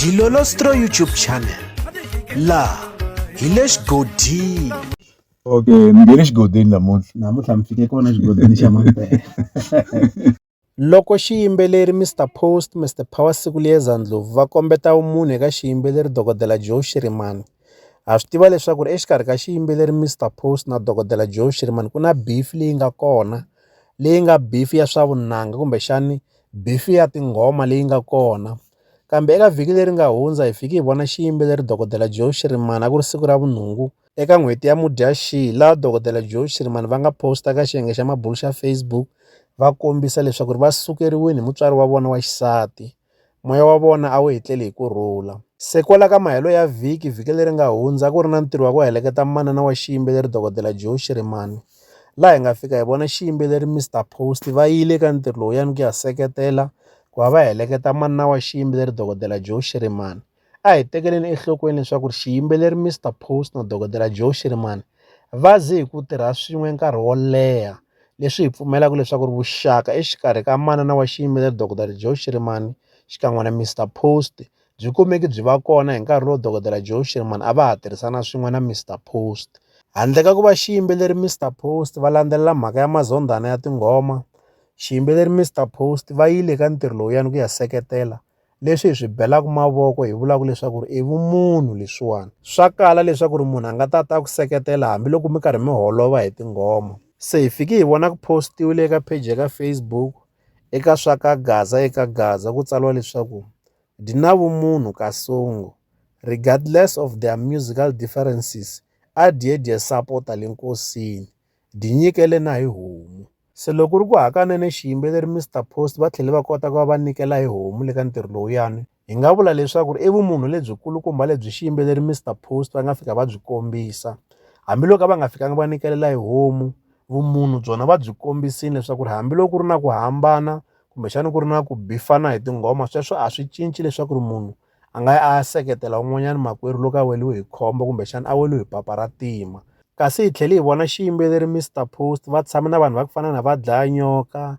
Dilolostro YouTube channel la hi le xigodini okay mi nge le xigodini namuntlha namuntlha mi fike kona xigodini xa mampela loko xiyimbeleri mr post mr power siku liyeza ndlovu va kombeta vumunhu eka xiyimbeleri dokodela joe shirimani ha swi tiva leswaku ri exikarhi ka xiyimbeleri mr post na dokodela joe shirimani ku na beef leyi nga kona leyi nga beef ya swa vunanga kumbexani bifi ya tinghoma leyi nga kona kambe eka vhiki leri nga hundza hi fiki hi vona xiyimbeleri dokodela joe shirimani a ku ri siku ra vunhungu eka n'hweti ya mudyaxihi laha dokodela joe shirimani va nga posta ka xiyenge xa mabulu xa facebook va kombisa leswaku ri va sukeriwile hi mutswari wa vona wa xisati moya wa vona a wu hetleli hi ku rhula se kwala ka mahelo ya vhiki vhiki leri nga hundza ku ri na ntirho wa ku heleketa manana wa xiyimbeleri dokodela joe shirimani laha hi nga fika hi vona xiyimbeleri Mister Post va yile ka ntirho lowuyani ku ya seketela ku va va heleketa manana wa xiyimbeleri dokodela Joe Shirimani a hi tekeleni enhlokweni leswaku ri xiyimbeleri Mister Post na dokodela Joe Shirimani va ze hi ku tirha swin'we nkarhi wo leha leswi hi pfumelaka leswaku ri vuxaka exikarhi ka manana wa xiyimbeleri dokodela Joe Shirimani xikan'we na Mister Post byi kumeki byi va kona hi nkarhi lowu dokodela Joe Sherman a va ha tirhisana swin'we na Mr Post. Handle ka ku va xiyimbeleri Mr Post va landzelela mhaka ya mazondhana ya tinghoma, xiyimbeleri Mr Post va yile ka ntirho lowuyani ku ya seketela leswi hi swi belaka mavoko hi vulaka leswaku ri i vumunhu leswiwani swa kala leswaku ri munhu a nga ta ta ku seketela hambiloko mi karhi mi holova hi tinghoma se hi fike hi vona ku postiwile eka page ya ka Facebook Eka swa ka Gaza eka Gaza ku tsariwa leswaku di na vumunhu kasongo regardless of their musical differences a dye dye sapota le nkosini di nyikele na hi homu se loko ku ri ku hakanene xiyimbeleri Mr Post va tlhele va kota ku va va nyikela hi homu le ka ntirho lowuyani hi nga vula leswaku ri i vumunhu lebyikulukumba lebyi xiyimbeleri Mister Post va nga fika va byi kombisa hambiloko va nga fikanga va nikelela hi homu vumunhu byona va byi kombisile leswaku ri hambiloko ku ri na ku hambana kumbexana ku ri na ku bifana hi tinghoma sweswo a swi cinci leswaku ri munhu a nga a seketela un'wanyana makwerhu loko a weliwe hi khombo kumbexana a weliwe hi papa ra tima kasi hi tlhele hi vona xiyimbeleri Mister Post va tshame na vanhu va ku fana na va dlaya nyoka